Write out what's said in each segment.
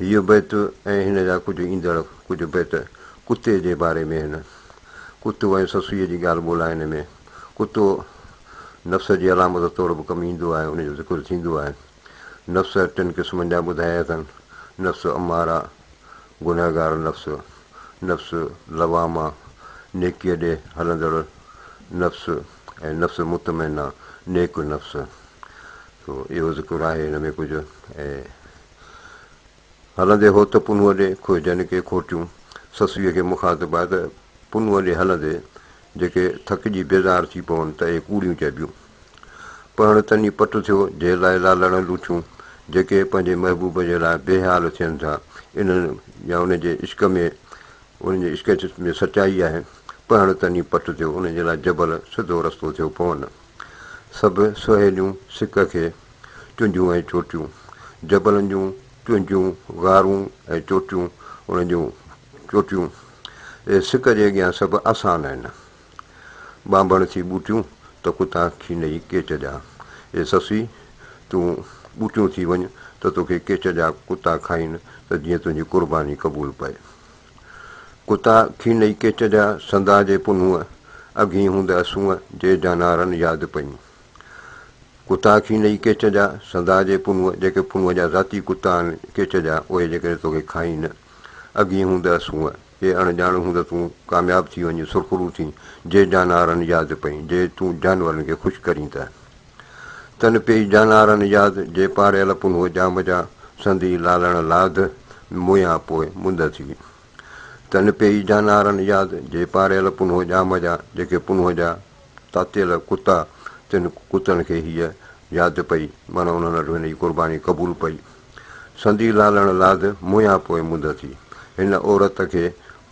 هيء بيت ۽ هن جا ڪجهه ايندڙ ڪجهه بيت ڪتي جي باري ۾ آهن. ڪتو ۽ سسئيء جي ڳالهه ٻولهه آهي هن ۾. ڪتو نفس جي علامت طور به ڪم ايندو آهي، ان جو ذڪر ٿيندو آهي. نفس ٽن قسمن جا ٻڌايا اٿن، نفس اماره، گنهگار نفس، نفس لوامه، نيڪيء ڏي هلندڙ نفس ۽ نفس مطمئنه، نيڪ نفس. سو اهو ذڪر آهي هن ۾ ڪجهه ۽ هلندي هو ته پنهونء ڏي کوهجن ڪي کوٽيون. سسئيء کي مخاطب آهي ته پنهونء ڏي هلندي جيڪي ٿڪجي بيزار ٿي پون ته اهي ڪوڙيون چئبيون. پهڻ تني پٽ ٿيو جي لاء لالڙن لوٺيون، جيڪي پنهنجي محبوب جي لاء بي حال ٿين ٿا، انهن يا ان جي عشق ۾ ان جي عشق ۾ سچائي آهي. پهڻ تني پٽ ٿيو، ان جي لاء جبل سڌو رستو ٿيو پون. سڀ سهيليون سڪ کي. چونجهون ۽ چوٽيون، جبلن جون چونجهون، غارون ۽ چوٽيون، انهن جون چوٽيون، اهي سڪ جي اڳيان سڀ آسان آهن. ٻانڀڻ ٿي ٻوٽيون ته ڪتا کين ئي ڪيچ جا. اي سسئي! تون ٻوٽيون ٿي وڃ ته توکي ڪيچ جا ڪتا کائين ته جيئن تنهنجي قرباني قبول پئي. ڪتا کين ئي ڪيچ جا سندا جي پنهونء اگهين هوند اسونء جي جانارن ياد پئين. ڪتا ٿي نئي ڪيچ جا، سدا جي پنهونء، جيڪي پنهونء جا ذاتي ڪتا آهن، ڪيچ جا، اهي جيڪڏهن توکي کائين نه، اڳهين هوندئس هوء، ڪي اڻ ڄاڻ هوند تون ڪامياب ٿي وڃين، سرخرو ٿين، جي جانارن ياد پئين، جي تون جانورن کي خوش ڪرين ته. تن پيئي جانارن ياد، جي پاڙيل پنهونء ڄام جا، سندي لالڻ لاڌ، موئيان پوء مند ٿي. تن پيئي جانارن ياد، جي پاڙيل پنهونء ڄام جا، جيڪي پنهونء جا، تاتيل ڪتا، تن ڪتن کي هيء ياد پئي، معنيٰ انهن وٽ هن جي قرباني قبول پئي. سندي لالڻ لاڌ موهيان پوء منڌ ٿي. هن عورت کي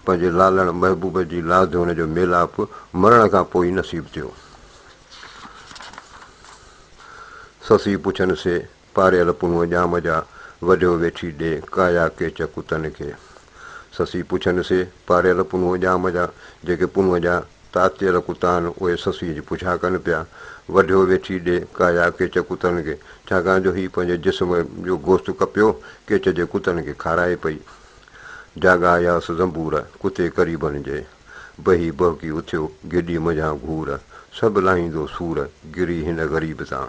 پنهنجي لالڻ محبوب جي لاڌ هن جو ميلاپ مرڻ کان پوء ئي نصيب ٿيو. سسئي پڇن سي پاريل پنهون ڄام جا، وڍيو ويٺي ڏي ڪايا ڪيچ ڪتن کي. سسئي پڇن سي، پاريل پنهون ڄام جا، جيڪي پنهون جا تاتيل ڪتا آهن، اهي سسئي جي پڇا ڪن پيا، وڍيو ويٺي ڏي ڪايا ڪيچ ڪتن کي، ڇاڪاڻ جو هي پنهنجي جسم جو گوشت ڪپيو، ڪيچ جي ڪتن کي کارائي پئي. جاڳا ياس زنبور، ڪتي قريبن جي. بهي بهڪي اٿيو، گيڏي منجهان گهور، سڀ لاهيندو سور، گري هن غريب تان.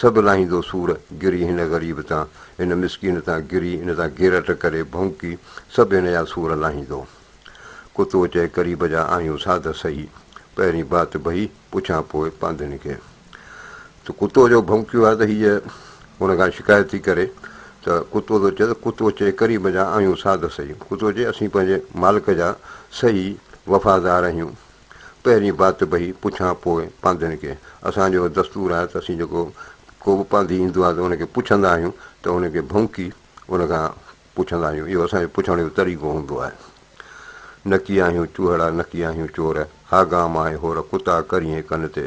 سڀ لاهيندو سور گري هن غريب تان هن مسڪين تان گري ان تان گيرٽ ڪري ڀونڪي سڀ هن جا سور لاهيندو ڪتو چئي قريب جا آهيون ساڌ سهي پهرين بات بهي پڇان پوء پانڌين کي ته ڪتو جو ڀونڪيو آهي ته هيء هن کان شڪايت ٿي ڪري ته ڪتو ٿو چئي ته ڪتو چئي قريب جا آهيون ساڌ سهي ڪتو چئي اسين پنهنجي مالڪ جا سهي وفادار آهيون پهرين بات بهي پڇان پوء پانڌين کي. اسان جو دستور آهي ته اسين جيڪو ڪو به پانڌي ايندو آهي ته ان کي پڇندا آهيون ته ان کي ڀونڪي ان کان پڇندا آهيون. اهو اسان جو پڇڻ جو طريقو هوندو آهي. نڪي آهيون چوهڙا نڪي آهيون چور، ها گام آهي هور ڪتا ڪرينء ڪن تي.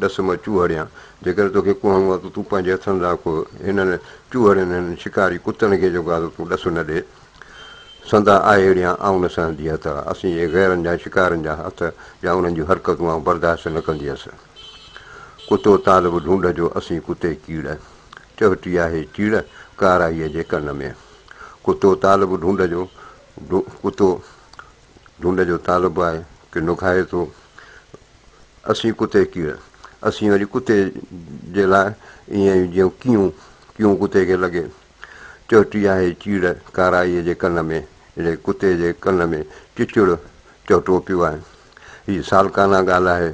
ڏس مان چوهڙيان، جيڪڏهن توکي ڪهڻو آهي ته تون پنهنجي هٿن سان ڪوهه، هنن چوهڙين، هنن شڪاري ڪتن کي جيڪو آهي سو تون ڏس نه ڏي. سندا آهيڙيان، آئون نه سهندي هٿ، اسين جي غيرن جا شڪارين جا هٿ يا انهن جون حرڪتون آئون برداشت نه ڪندي هيس. ڪتو طالب ڍونڍ جو اسين ڪتي ڪيڙ، چهٽي آهي چيڙ، ڪارائيء جي ڪن ۾. ڪتو طالب ڍونڍ جو، ڪتو ڍونڍ جو طالب آهي، ڪي نگهائي ٿو. اسين ڪتي ڪيئي، اسين وري ڪتي جي لاء ائين ئي جيئن ڪيون، ڪيون ڪتي کي لڳي. چهٽي آهي چيڙ ڪارائيء جي ڪن ۾، اڙي ڪتي جي ڪن ۾ چچڙ چهٽو پيو آهي. هي سالڪانه ڳالهه آهي.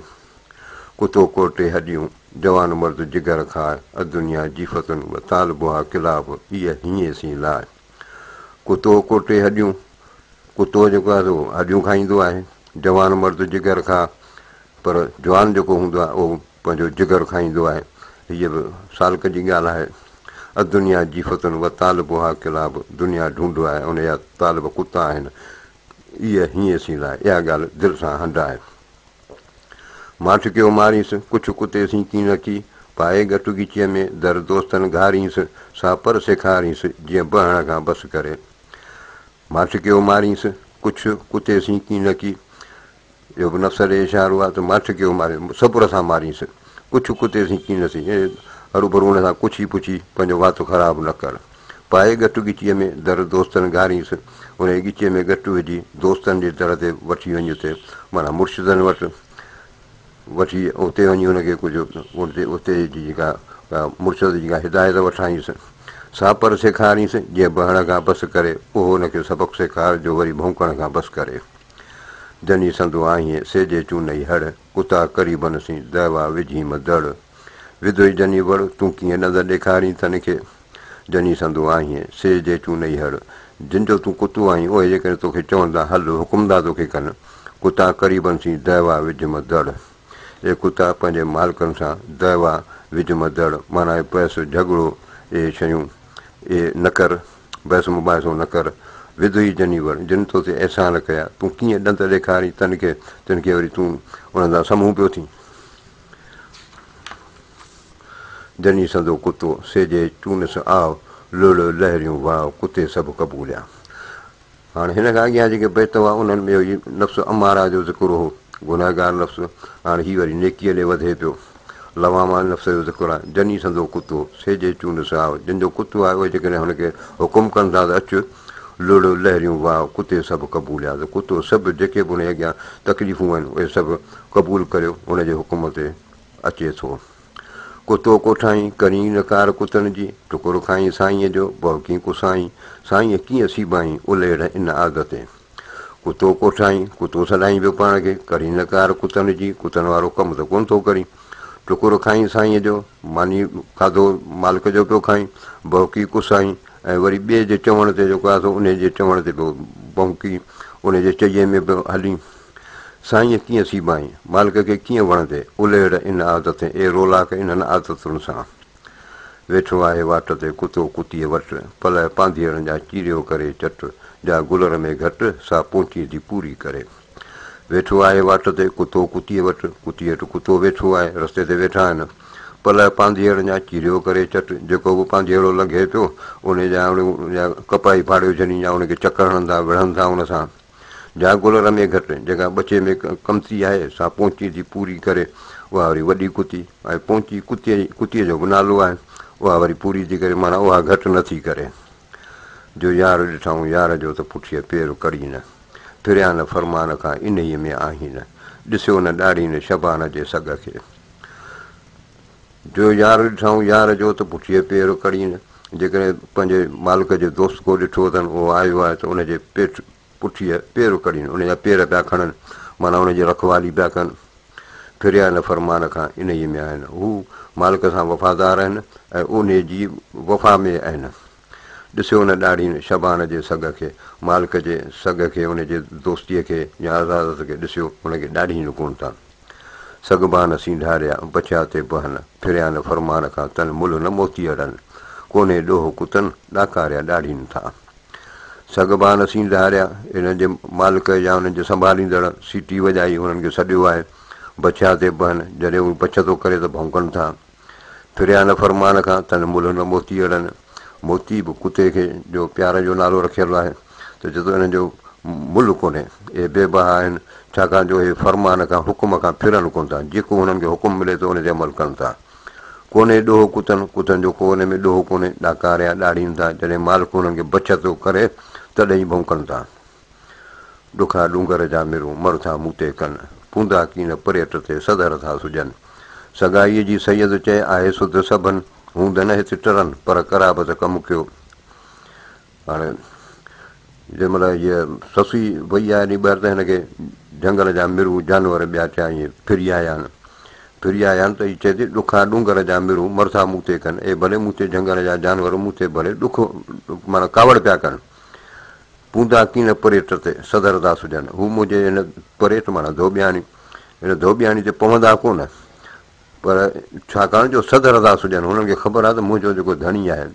ڪتو ڪو ٽي هڏيون، جوان مرد جگر کاء، ادنيا جيفتن و طالبها ڪلاب، ايء هينئين سين لاء. ڪتو ڪو ٽي هڏيون، ڪتو جيڪو آهي سو هڏيون کائيندو آهي، جوان مرد جگر کاء، پر جوان جيڪو هوندو آهي اهو پنهنجو جگر کائيندو آهي. هيء به سالڪ جي ڳالهه آهي. الدنيا جيفة وطالبها ڪلاب، دنيا ڍونڍ آهي ۽ ان جا طالب ڪتا آهن. ايء هينئسين لاء اها ڳالهه دل سان هنڊ آهي. مان ٺڪيو مارينس، ڪڇ ڪتي سين ڪين اچي، پائي ڳٽ ڳچيء ۾، در دوستن گهارينس، سا پر سيکارينس، جيئن بهڻ کان بس ڪري. مان ٺڪيو مارينس، ڪڇ ڪتي سين ڪين اچي، اهو به نفس ڏي اشارو آهي ته مان ٺڪيو مارينس، صبر سان مارينس، ڪڇ ڪتي سين ڪين اچي، يعني هروڀرو ان سان ڪڇي پڇي پنهنجو وات خراب نه ڪر. پائي ڳٽ ڳچيء ۾ در دوستن گهارينس، انهيء ڳچيء ۾ ڳٽ وجهي دوستن جي در تي وٺي وڃ اتي معنيٰ مرشدن وٽ وٺي اتي وڃي هن کي ڪجهه اتي جي جيڪا مرشد جيڪا هدايت وٺائينس سا پر سيکارينس جيئن بهڻ کان بس ڪري اهو هن کي سبق سيکار جو وري ڀونڪڻ کان بس ڪري جني سندو آهين سي جي چونئي هڙ اتا قريبن سين دهوا وجهيم دڙ وڌوئي جني وڙ تون ڪيئن نظر ڏيکارين تن کي. جني سندو آهين، سي جي تون نئي هڙ. جن جو تون ڪتو آهين، اهي جيڪڏهن توکي چوندا، هل، حڪم ٿا توکي ڪن. ڪتا قريبن سين دعويٰ وجهه م دڙ. اي ڪتا پنهنجي مالڪن سان دعويٰ وجهه م دڙ، معنيٰ اي پئس، جهڳڙو، اي شيون، اي نه ڪر، بحث مباحثو نه ڪر. وڌ هي جني وڙ، جن تو تي احسان ڪيا، تون ڪيئن ڏند ڏيکارين تن کي، تن کي وري تون انهن سان سمهون پيو ٿين. جني سندو ڪتو سيجي چونس آء، لؤلؤ لهريون واء ڪتي سڀ قبوليا. هاڻ هن کان اڳيان جيڪي بيت هئا انهن ۾ هي نفس اماره جو ذڪر هو، گنهگار نفس، هاڻ هي وري نيڪيء ڏي وڌي پيو. لوامه نفس جو ذڪر آهي، جني سندو ڪتو سيجي چونس آء، جن جو ڪتو آهي اهي جيڪڏهن هن کي حڪم ڪن ٿا ته اچ، لڙ، لهريون، واء، ڪتي سڀ قبول ياد ڪتو سڀ جيڪي به ان جي اڳيان تڪليفون آهن اهي سڀ قبول ڪريو ان جي حڪم تي اچي ٿو. ڪتو ڪوٺائين ڪرين نه ڪار ڪتن جي ٽڪر کائين سائينء جو ڀؤڪين ڪسائين سائينء ڪيئن سيبائين الهيڙ ان آگ تي ڪتو ڪوٺائين ڪتو سڏائين پيو پاڻ کي ڪرين نه ڪار ڪتن جي ڪتن وارو ڪم ته ڪونه ٿو ڪرين. ٽڪرو کائين سائينء جو، ماني کاڌو مالڪ جو پيو کائين، ڀونڪي ڪسائين ۽ وري ٻئي جي چوڻ تي جيڪو آيو سو انهيء جي چوڻ تي پيو ڀونڪي، انهيء جي چئي ۾ پيو هلين. سائينء ڪيئن سيبائين، مالڪ کي ڪيئن وڻندي، الهڙ ان عادتين، اي رولاڪ انهن عادتن سان. ويٺو آهي واٽ تي ڪتو ڪتيء وٽ، پلئه پانڌيئڙن جا چيريو ڪري چٽ، جا گلر ۾ گهٽ، سا پونچي ٿي پوري ڪري. ويٺو آهي واٽ تي ڪتو ڪتيء وٽ، ڪتيء هيٺ ڪتو ويٺو آهي، رستي تي ويٺا آهن پلئه پانڌيئڙن جا چيريو ڪري چٽ، جيڪو به پانڌيئڙو لنگهي پيو ان جا جا ڪپاهي ڦاڙيو جني جا ان کي چڪر هڻن ٿا وڙهن ٿا ان سان جا گل رمي گهٽ جيڪا ٻچي ۾ ڪمتي آهي سا پونچي ٿي پوري ڪري اها وري وڏي ڪتي آهي پونچي ڪتيء ڪتيء جو به نالو آهي اها وري پوري ٿي ڪري معنيٰ اها گهٽ نه ٿي ڪري. جو يار ڏٺائون يار جو ته پٺيء پير ڪڙهي نه، ڦريان نه فرمان کان انهيء ۾ آهين نه، ڏسيو نه ڏاڙهي نه شبان جي سڳ کي. جو يار ڏٺائون يار جو ته پٺيء پير ڪڙهي نه، جيڪڏهن پنهنجي مالڪ جي دوست ڪو ڏٺو اٿن اهو آيو آهي ته ان جي پيٺ پٺيء پير ڪرين، ان جا پير پيا کڻن، معنيٰ ان جي رکوالي پيا ڪن. ڦريا هن فرمان کان انهيء ۾ آهن. هو مالڪ سان وفادار آهن ۽ اونهي جي وفا ۾ آهن. ڏسيو ان ڏاڙهين شبان جي سگهه کي. مالڪ جي سگهه کي، ان جي دوستيء کي يا عزازت کي ڏسيو، ان کي ڏاڙهين لڪون ٿا. سگهبان سينڌاريا بڇيا تي بهن، ڦريا هن فرمان کان تن ملهه نه موتي اڙن. ڪونهي ڏوهه ڪتن، ڏاڪاريا ڏاڙهين ٿا. سگهبان اسين ڌاريا، انهن جي مالڪ يا انهن جي سنڀاليندڙ سيٽي وڄائي هنن کي سڏيو آهي، بڇيا تي بهن، جڏهن اهي بڇ ٿو ڪري ته ڀونڪن ٿا. ڦريا نه فرمان کان، تن ملهه نه موتي اڙن. موتي به ڪتي کي جو پيار جو نالو رکيل آهي ته چي ٿو انهن جو ملهه ڪونهي، اهي بي بها آهن، ڇاڪاڻ جو اهي فرمان کان، حڪم کان، ڦرن ڪونه ٿا، جيڪو هنن کي حڪم ملي ٿو ان تي عمل ڪن ٿا. ڪونهي ڏوهه ڪتن، ڪتن جو ڪو ان ۾ ڏوهه ڪونهي، ڏاڪاريا ڏاڙهين ٿا، جڏهن مالڪ انهن کي بڇ ٿو ڪري، تڏهن ئي ڀونڪن ٿا. ڏکا ڏونگر جا مرون، مر ٿا مون تي ڪن، پوندا ڪين پريٽ تي سڌر ٿا سجن. سگائيء جي سيد چئي آهي سڌ سڀن، هوندن هت ٽرن، پر قرابت ڪم ڪيو. هاڻي جنهن مهل هيء سسئي وئي آهي ني ٻاهر ته هن کي جهنگل جا مرون جانور ٻيا ٿيا ائين ڦري آيا آهن ڦري آيا آهن ته هي چئي ٿي ڏکا ڏونگر جا مرون مرٿا مون تي ڪن اي ڀلي مون تي جهنگل جا جانور مون تي ڀلي ڏک معنيٰ ڪاوڙ پيا ڪن پوندا ڪين پريت تي سدر داس جن هو منهنجي هن پريت معنيٰ ڌوٻياڻي هن ڌوٻياڻي تي پوندا ڪونه پر ڇاڪاڻ جو سڌ رضا سڄڻ هنن کي خبر آهي ته منهنجو جيڪو ڌڻي آهي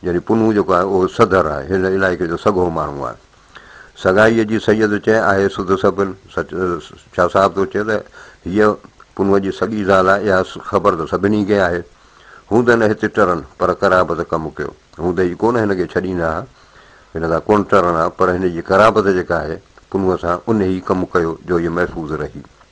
يعني پنهون جيڪو آهي اهو سڌر آهي هن علائقي جو سگهو ماڻهو آهي سگهائيء جي سيد چئي آهي سڌ سڀن سچ شاهه صاحب ٿو چئي ته هيء پنهون جي سڳي زال آهي اها خبر ته سڀني کي آهي هوندء نه هتي ٽرن پر قرابت ڪم ڪيو هوندء ئي ڪونه هن کي ڇڏيندا ها هن سان ڪونه ٽرن ها پر هن جي قرابت جيڪا آهي پنهون سان انهي ئي ڪم ڪيو جو هيء محفوظ رهي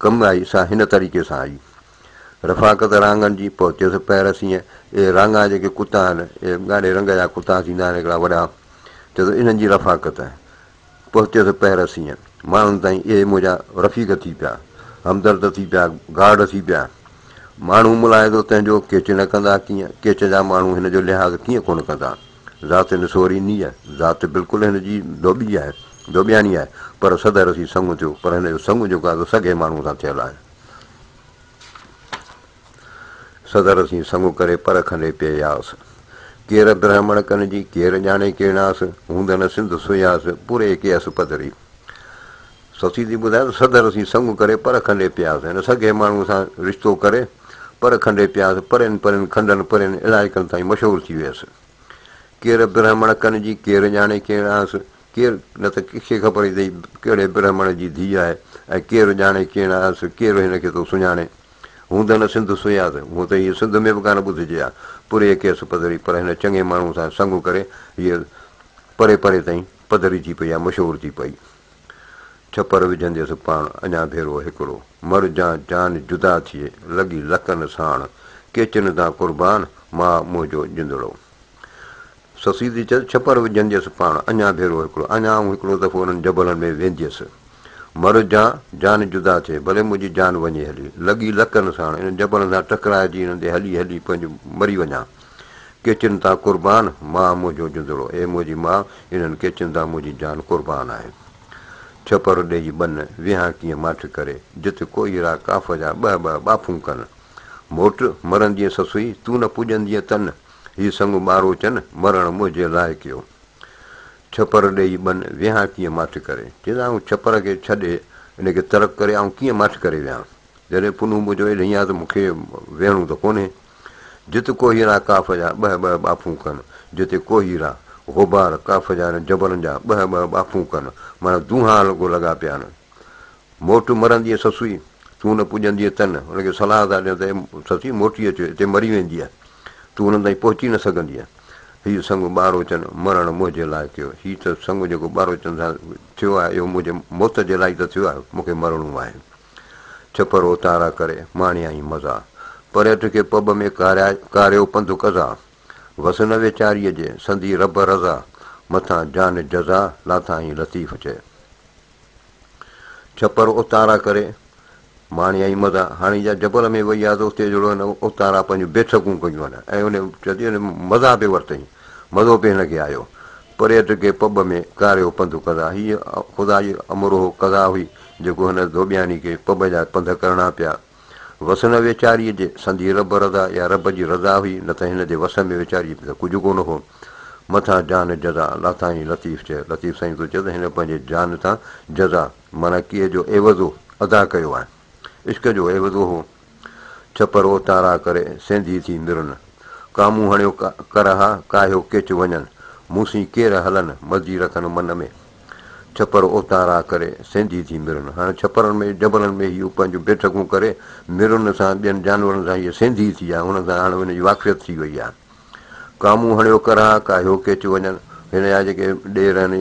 ڪم آئي سا هن طريقي سان آئي. رفاقت رانگن جي پهتيس پهر سينهن، اي رانگا جيڪي ڪتا آهن، اي ڳاڙهي رنگ جا ڪتا ٿيندا آهن هڪڙا وڏا، چيو ته انهن جي رفاقت پهتيس پهر سينهن، ماڻهن تائين اهي منهنجا رفيق ٿي پيا، همدرد ٿي پيا، گارڊ ٿي پيا. ماڻهو ملاحظو تنهنجو ڪيچ نه ڪندا ڪيئن، ڪيچ جا ماڻهو هن جو لحاظ ڪيئن ڪونه ڪندا. ذات نسوري نيء، ذات بلڪل هن جي ڌوٻي آهي، ڌوٻياڻي آهي، پر سڌ رسي سڱ ٿيو، پر هن جو سڱ جيڪو آهي سو سگهي ماڻهوء سان ٿيل آهي. سڌ رسي سڱ ڪري پر کنڊي پئي آس. ڪير برهمڻ ڪن جي، ڪير ڄاڻي ڪيڻاس، هوندن سنڌ سياس، پوري ڪيس پڌري. سسي ٿي ٻڌائي ته سڌر اسين سڱ ڪري پر کنڊي پياسين. هن سگهي ماڻهوء سان رشتو ڪري پر کنڊي پياسين. پرين پرين کنڊن پرين علائقن تائين مشهور ٿي ويس. ڪير برهمڻ ڪن جي ڪير ڄاڻي ڪير آهنس ڪير نه ته ڪنهن کي خبر ئي ته هي ڪهڙي برهمڻ جي ڌيء آهي ۽ ڪير ڄاڻي ڪير آهنس ڪير هن کي ٿو سڃاڻي. هوندن سنڌ سياس هونء ته هيء سنڌ ۾ به ڪانه ٻڌجي ها. پريء ڪيس پڌري پر هن چڱي ماڻهوء سان سڱ ڪري هيء پري پري تائين. پڌري ٿي پئي ۽ مشهور ٿي پئي. ڇپر وجهندي سو پاڻ اڃا ڀيرو هڪڙو. مر جان جان جدا ٿئي، لڳي لڪن ساڻ. ڪيچن تان قربان، ماء منهنجو جندڙو. سسي ٿي چيس، ڇپر وجهندي سو پاڻ اڃا ڀيرو هڪڙو. اڃا آئون هڪڙو دفعو انهن جبلن ۾ وينديس. مر جان جان جدا ٿئي، ڀلي منهنجي جان وڃي هلي. لڳي لڪن ساڻ، انهن جبلن سان ٽڪرائجي انهن تي هلي هلي پنهنجو مري وڃان. ڪيچن تان قربان، ماء منهنجو جندڙو، اي منهنجي ماء، انهن ڪيچن تان منهنجي جان قربان آهي. ڇپر ڏيئي ٻن، ويهان ڪيئن ماٺ ڪري، جت ڪوئي را ڪاف جا ٻه ٻه ٻاڦون ڪن. موٽ، مرندينء سسئي، تون نه پڄندينء تن، هي سڱ ٻاروچن، مرڻ منهنجي لاء ڪيو. ڇپر ڏيئي ٻن، ويهان ڪيئن ماٺ ڪري. چيس، آئون ڇپر کي ڇڏي، ان کي ترڪ ڪري، آئون ڪيئن ماٺ ڪري ويهان. جڏهن پنهون منهنجو ايڏهين آ ته مون کي ويهڻو ته ڪونهي. جت ڪوهيرا ڪاف جا ٻهه ٻهه ٻاڦون ڪن، جتي ڪوهيرا، غبار، ڪاف جا هن جبلن جا ٻهه ٻهه ٻاڦون ڪن، معنيٰ دونها الڳو لڳا پيا آهن. موٽ مرنديء سسئي، تون نه پڄندينء تن، هن کي صلاح ٿا ڏين ته اي سسئي موٽي اچ، هتي مري ويندينء، تون هنن تائين پهچي نه سگهندينء. هيء سڱ ٻاروچن مرڻ منهنجي لاء ڪيو. هي ته سڱ جيڪو ٻاروچن سان ٿيو آهي، اهو منهنجي موت جي لاء ئي ته ٿيو آهي، مون کي مرڻو آهي. ڇپر اوتارا ڪري، ماڻيائين مزا. پريت کي پٻ ۾ ڪاريا، ڪاريو پنڌ قضا. وس نه ويچاريء جي، سندي رب رضا. مٿان جان جزا، لاٿائين لطيف چئي. ڇپر اوتارا ڪري، ماڻيائين مزا. هاڻي جا جبل ۾ وئي آ ته اتي جهڙو هن اوتارا پنهنجون بيٺڪون ڪيون هن ۽ ان چئي ٿي مزا به ورتئين، مزو به هن کي آيو. پريٽ کي پٻ ۾ ڪاريو پنڌ ڪندا. هيء خدا جي امروهه قضا هئي، جيڪو هن ڌوٻياني کي پٻ جا پنڌ ڪرڻا پيا. وس نه ويچاريء جي، سندي رب رضا يا رب جي رضا هئي، نه ته هن جي وس ۾ ويچاريء کي ته ڪجهه ڪونه هو. مٿان جان جزا، لاٿائين لطيف چئه، لطيف سائين ٿو چئه ته هن پنهنجي جان تان جزا، معنيٰ ڪيء جو عيوضو، ادا ڪيو آهي. عشق جو عيوض اهو، ڇپر اوتارا ڪري، سينڌي ٿي مرن. ڪامون هڻيو ڪرها، ڪاهيو ڪيچ وڃن، مون سين ڪير هلن، مزي رکن من ۾. ڇپر اوتارا ڪري، سينڌي ٿي مرن. هاڻي ڇپرن ۾ جبلن ۾ هيء پنهنجون بيٺڪون ڪري مرن سان ٻين جانورن سان هيء سينڌي ٿي آهي، هنن سان هاڻي هن جي واقفيت ٿي وئي آهي. ڪامون هڻيو ڪرها ڪا هيو ڪيچ وڃن هن جا جيڪي ڏير آهن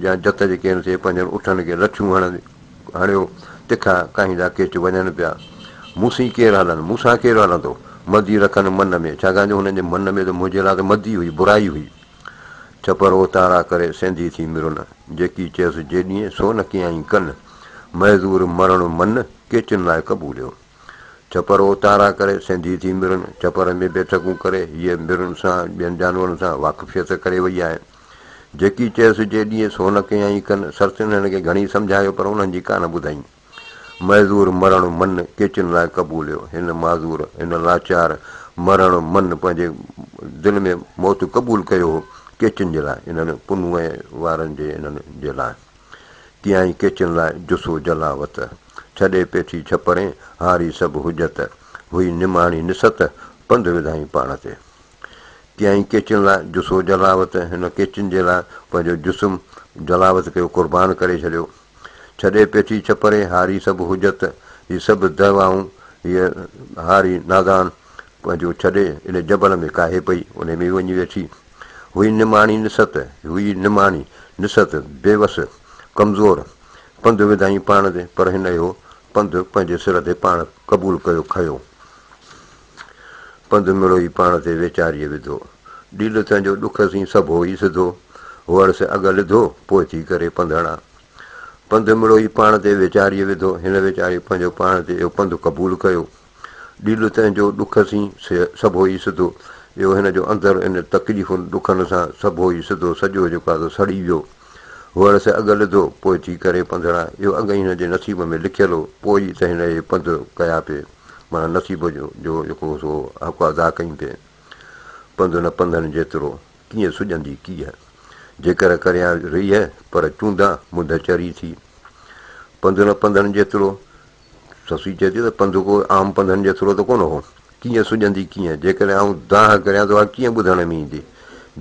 يا جت جيڪي آهن سي پنهنجن اٺن کي لڇون هڻن هڻيو تکا ڪاهيندا ڪيچ وڃن پيا مون سين ڪير هلن مون سان ڪير هلندو مدي رکن من ۾ ڇاڪاڻ جو هنن جي من ۾ ته منهنجي لاء ته مدي هئي برائي هئي ڇپر اوتارا ڪري سينڌي ٿي مرن جيڪي چيس جيڏينء سو نه ڪيائين ڪن معذور مرڻ من ڪيچن لاء قبوليو. ڇپر اوتارا ڪري سينڌي ٿي مرن ڇپر ۾ بيٺڪون ڪري هيء مرن سان ٻين جانورن سان واقفيت ڪري وئي آهي. جيڪي چيس جي ڏينهن سو نه ڪيائين ڪن سرتين هن کي گهڻي سمجهايو پر انهن جي ڪانه ٻڌائين. معذور مرڻ من ڪيچن لاء قبوليو هن معذور هن لاچار مرڻ من پنهنجي دل ۾ موت قبول ڪيو هو ڪيچن جي لاء انهن پنهونء وارن جي انهن جي لاء. ڪيائين ڪيچن لاء جسو جلاوت. ڇڏي پيٺي ڇپرين هاري سڀ حجت. هئي نماڻي نست پنڌ وڌائين پاڻ تي. ڪيائين ڪيچن لاء جسو جلاوت. هن ڪيچن جي لاء پنهنجو جسم جلاوت ڪيو قربان ڪري ڇڏيو. ڇڏي پيٺي ڇپرين هاري سڀ حجت. هي سڀ دعوائون هيء هاري نادان پنهنجو ڇڏي ان جبل ۾ ڪاهي پئي. انهي ۾ وڃي ويٺي. هئي نماڻي نسهت، هئي نماڻي نسهت، بيوس، ڪمزور، پنڌ وڌائين پاڻ تي، پر هن اهو پنڌ پنهنجي سر تي پاڻ قبول ڪيو کنيو. پنڌ مڙوئي پاڻ تي ويچاريء وڌو. ڏيل تنهنجو ڏک سين سڀو ئي سڌو، هئڙ سين اڳ لڌو، پوء ٿي ڪري پنڌڻا. پنڌ مڙوئي پاڻ تي ويچاريء وڌو، هن ويچاري پنهنجو پاڻ تي اهو پنڌ قبول ڪيو. ڏيڏو تنهن جو ڏک سين سي سڀو ئي سڌو اهو هن جو اندر ان تڪليفن ڏکن سان سڀو ئي سڌو سڄو جيڪو آهي سو سڙي ويو هئڻ سي اڳ لڌو پوء ٿي ڪري پنڌڙا اهو اڳ ئي هن جي نصيب ۾ لکيل هو پوء ئي ته هن اهي پنڌ ڪيا پي معنيٰ نصيب جو جو جيڪو هو سو حق ادا ڪيون پي پنڌ نه پنڌن جيترو ڪيئن سڄندي ڪيئه جيڪر ڪريان ريهه پر چوندا منڌ چري ٿي پنڌ نه پنڌن جيترو سسئي چئي ٿي ته پنڌ ڪو عام پنڌن جيترو ته ڪونه هو، ڪيئن سڄندي ڪيئن، جيڪڏهن آئون دانهن ڪريان ته اها ڪيئن ٻڌڻ ۾ ايندي،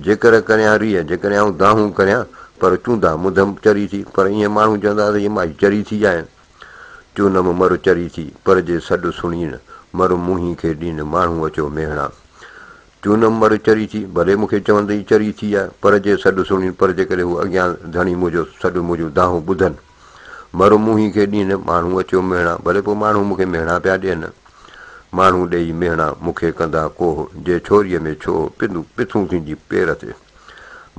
جيڪر ڪريان ريء، جيڪڏهن آئون دانهون ڪريان، پر چوندا مڌم چري ٿي، پر ايئن ماڻهو چوندا ته هيء مائي چري ٿي جائين. چونم مر چري ٿي، پر جي سڏ سڻين، مر منهين کي ڏين، ماڻهو اچو ميهڙان. چونم مر چري ٿي، ڀلي مون کي چوندئي چري ٿي آ، پر جي سڏ سڻين، پر جيڪڏهن هو اڳيان ڌڻي منهنجو سڏ منهنجون دانهون ٻڌن، مرو موهين کي ڏين ماڻهو اچيو مهڻا ڀلي پوء ماڻهو مون کي مهڻا پيا ڏين ماڻهو ڏيئي مهڻا مون کي ڪندا ڪوهه جي ڇوريء ۾ ڇو پندون پٿون ٿيندي پير تي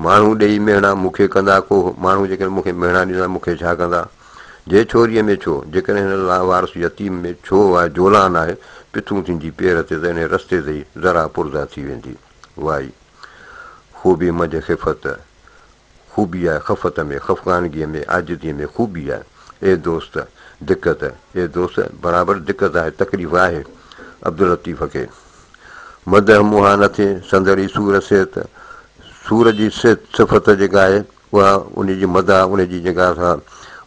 ماڻهو ڏيئي مهڻا مون کي ڪندا ڪوهه ماڻهو جيڪڏهن مون کي مهڻا ڏيندا مون کي ڇا ڪندا جي ڇوريء ۾ ڇو جيڪڏهن هن لاوارث يتيم ۾ ڇو آء جولان آهي پٿون ٿيندي پير تي ته انهي رستي تي ئي ذرا پرزا ٿي ويندي وائي خوبي منجهه خفت خوبي آهي خفت ۾، خفقانگيء ۾، عاجزيء ۾ خوبي آهي. اي دوست! دقت، اي دوست! برابر دقت آهي، تڪليف آهي. عبداللطيف کي مدح منهان نه ٿئي، سندر ئي سور صحت، سور جي صفت جيڪا آهي، اها انهيء جي مدح، انهيء جي جيڪا سا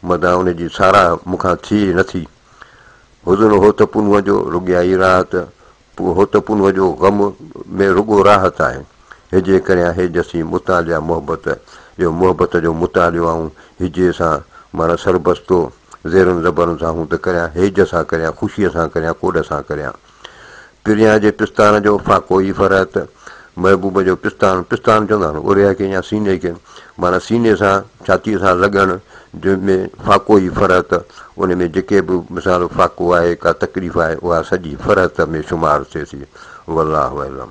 مدح، انهيء جي ساراهه مون کان ٿئي نه ٿي. حزن هو ته پنهونء جو، رڳيائي راحت، اهو ته پنهون جو غم ۾ رڳو راحت آهي. هجي ڪريان هي جسي مطالعه محبت، اهو محبت جو مطالعو آئون هجي سان معنيٰ سربستو زيرن زبرن سان هون ته ڪريان هيج سان ڪريان خوشيء سان ڪريان ڪوڏ سان ڪريان. پريان جي پستان جو فاقو ئي فرحت. محبوب جو پستان، پستان چوندا آهن اوريا کي يا سيني کي، معنيٰ سيني سان ڇاتيء سان لڳڻ جنهن ۾ فاقو ئي فرحت، ان ۾ جيڪي به مثال فاقو آهي، ڪا تڪليف آهي، اها سڄي فرحت ۾ شمار ٿئي ٿي. والله اعلم.